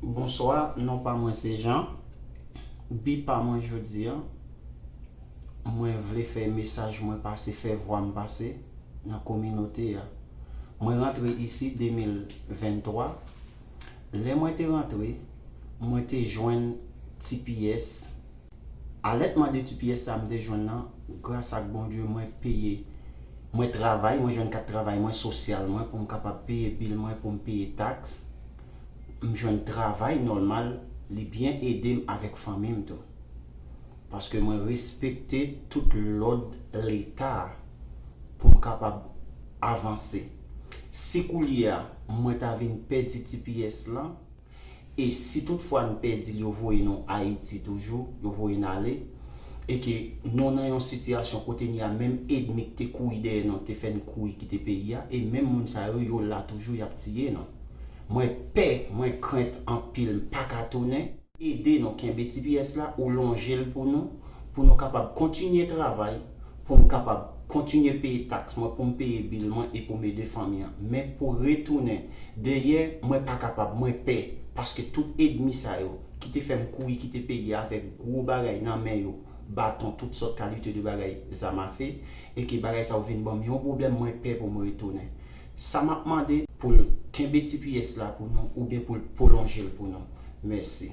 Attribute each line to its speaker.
Speaker 1: Bonswa non pa mwen se Jean bi pa mwen jodi an mwen vle fè mesaj mwen pase fè vwa m pase nan kominote a mwen rantre isi 2023 lè mwen te rantre mwen te jwenn tps Alèt mande ti pyès sa m te jwenn nan gras ak Bondye mwen peye mwen travay mwen jwenn kat travay mwen sosyal mwen pou m kapab peye bil mwen pou m peye taks m jwenn travay nòlmal li byen ede m avèk fanmi m tou paske mwen respekte tout lòd leta pou m kapab avanse si koulye a mwen ta vin pèdi ti pyès lan. e si tout fwa nou pèdil yo voye nou ayiti toujou yo voye n ale e ke nou nan yon sitiyasyon kotenye menm edmi k te kouri dèyè nou te fè n kouri kite peyi a e menm moun sa yo yo la toujou yap tiye nou mwen pè mwen krent anpil m paka tounen. Ede nou kenbe ti pyès la ou lonjel pou nou pou nou kapab kontinye travay pou m kapab kontinye peye taks mwen, pou m peye bil mwen e pou m ede fanmi an. Men pou retounen dèyè, mwen pa kapab, mwen pè, paske tout edmi sa yo, ki te fè m kouri kite peyi a avèk gwo bagay nan men yo, baton, tout sòt kalite de bagay, zam afe, e ke bagay sa yo vin ban m yon pwoblèm, mwen pè pou m retounen. Sa m ap mande, pou l kenbe tps la pou nou, oubyen pou l pwolonje l pou nou. Mèsi.